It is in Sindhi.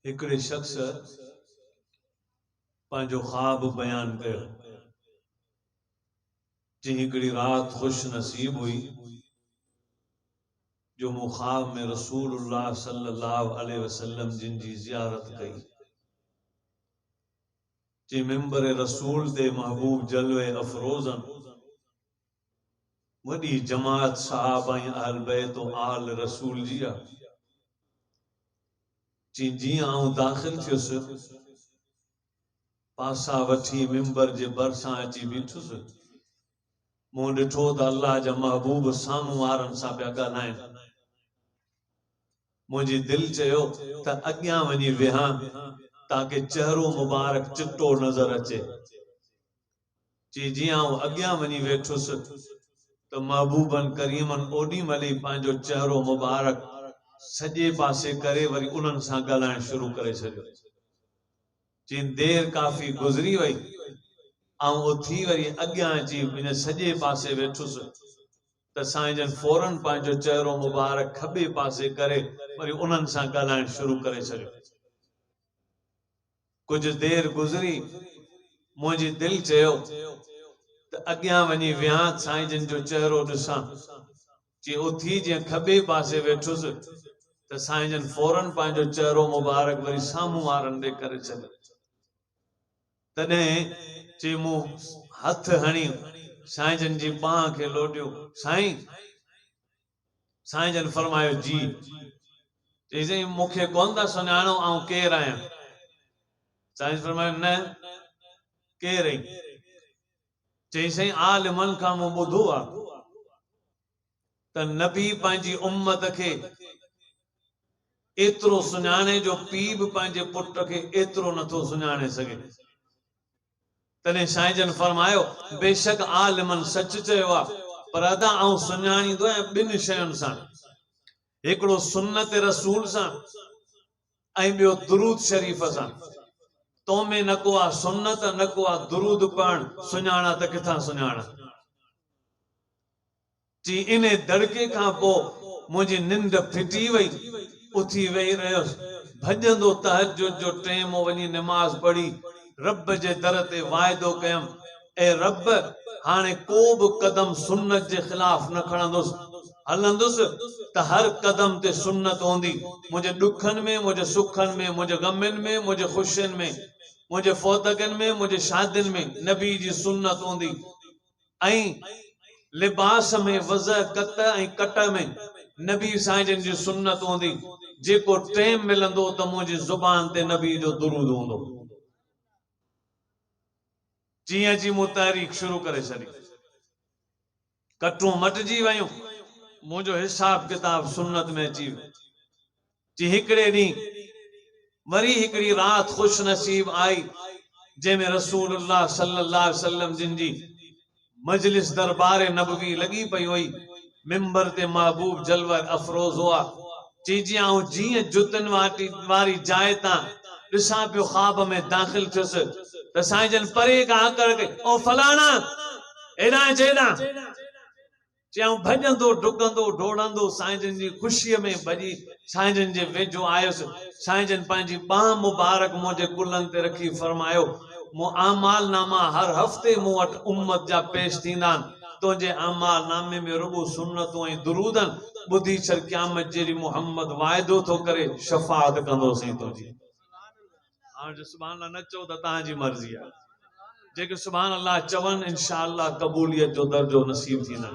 هڪڙي شخص پنهنجو خواب بيان ڪيو. چيائين هڪڙي رات خوش نصيب هئي جو مون خواب ۾ رسول الله صلي الله عليه وسلم جن جي زيارت ڪئي چي ممبر رسول تي محبوب جلوي افروزن وڏي جماعت صحابه ۽ اهل بيت و آل رسول جي آ. چين جيئن آئون داخل ٿيس، پاسا وٺي ممبر جي ڀرسان اچي بيٺس. مون ڏٺو ته الله جا محبوب سامهون وارن سان پيا ڳالهائين. منهنجي دل چيو ته اڳيان وڃي ويهان تاڪه چهرو مبارڪ چٽو نظر اچي. چي جي آئون اڳيان وڃي ويٺس ته محبوبن ڪريمن اوڏي مهل ئي پنهنجو چهرو مبارڪ سڄي پاسي ڪري وري انهن سان ڳالهائڻ شروع ڪري ڇڏيو. چين دير ڪافي گذري وئي آئون اٿي وري اڳيان اچي پنهنجي سڄي پاسي ويٺس ته سائين جن فورن پنهنجو چهرو مبارڪ کٻي پاسي ڪري وري انهن سان ڳالهائڻ شروع ڪري ڇڏيو. ڪجهه دير گذري منهنجي دل چيو ته اڳيان وڃي ويهان سائين جن جو چهرو ڏسان. جي اٿي جئين کٻي پاسي ويٺس ته سائين جن فورن پنهنجو چهرو مبارڪ وري سامهون وارن ڏي ڪري ڇڏيو. تڏهن جي مون هٿ هڻي سائين جن جي ٻانهن کي لوڏيو، سائين! سائين جن فرمايو، جي. چيسين، مون کي ڪونه ٿا سڃاڻو، آئون ڪير آهيان؟ سائين جن فرمايو، نه، ڪير اهين؟ چيسين، عالمن کان مون ٻڌو آهي ته نبي پنهنجي امت کي ايترو سڃاڻي جو پيء به پنهنجي پٽ کي ايترو نٿو سڃاڻي سگهي. تڏهن سائين جن فرمايو، بيشڪ عالمن سچ چيو آهي، پر ادا آئون سڃاڻيندو آهيان ٻن شين سان، هڪڙو سنت رسول سان ۽ ٻيو درود شريف سان، تو ۾ نه ڪو آهي سنت نه ڪو آهي درود پڙهڻ، سڃاڻان ته ڪٿان سڃاڻان. جي انهي دڙڪي کان پوء منهنجي ننڊ ڦٽي وئي. اٿي ويهي رهيس. ڀڄندو تهجد جو ٽيم هو وڃي نماز پڙهي رب جي در تي واعدو ڪيم، اي رب هاڻي ڪو به قدم سنت جي خلاف نه کڻندس. هلندس ته هر قدم تي سنت هوندي. منهنجي ڏکن ۾، منهنجي سکن ۾، منهنجي غمين ۾، منهنجي خوشين ۾، منهنجي فوتگين ۾، منهنجي شادين ۾، نبي جي سنت هوندي. ۽ لباس ۾ وضع قطع ۽ قطع ۾ نبي سائين جن جي سنت هوندي جيڪو ٽيم ملندو ته منهنجي زبان تي نبي جو درود هوندو جيئن جي مون تحريڪ شروع ڪري ڇڏي ڪٽون مٽجي ويون منهنجو حساب ڪتاب سنت ۾ اچي ويو جي هڪڙي ڏينهن وري هڪڙي رات خوش نصيب آئي جنهن ۾ رسول الله صلي الله عليه وسلم جن جي مجلس دربار نبوي لڳي پئي هئي منبر تي محبوب جلوه افروز هئا چي جي آئون جيئن جتن واري جاء تان ڏسان پيو خواب ۾ داخل ٿيس ته سائين جن پري کان هڪڙ ڪئي او فلاڻا هيڏانهن اچ هيڏانهن چيائون ڀڄندو ڊڪندو ڊوڙندو سائين جن جي خوشيء ۾ ڀڄي سائين جن جي ويجهو آيس. سائين جن پنهنجي ٻانهن مبارڪ منهنجي ڪلهن تي رکي فرمايو، مون اعمال ناما هر هفتي مون وٽ امت جا پيش ٿيندا آهن، تنهنجي اعمال نامي ۾ رڳو سنتون ۽ درود آهن، ٻڌي ڇڏ قيامت جهڙي محمد واعدو ٿو ڪري، شفاعت ڪندو سائين تنهنجي. هاڻ جو سبحان الله نه چئو ته توهان جي مرضي آهي. جيڪي سبحان الله چون انشاء الله قبوليت جو درجو نصيب ٿيندن.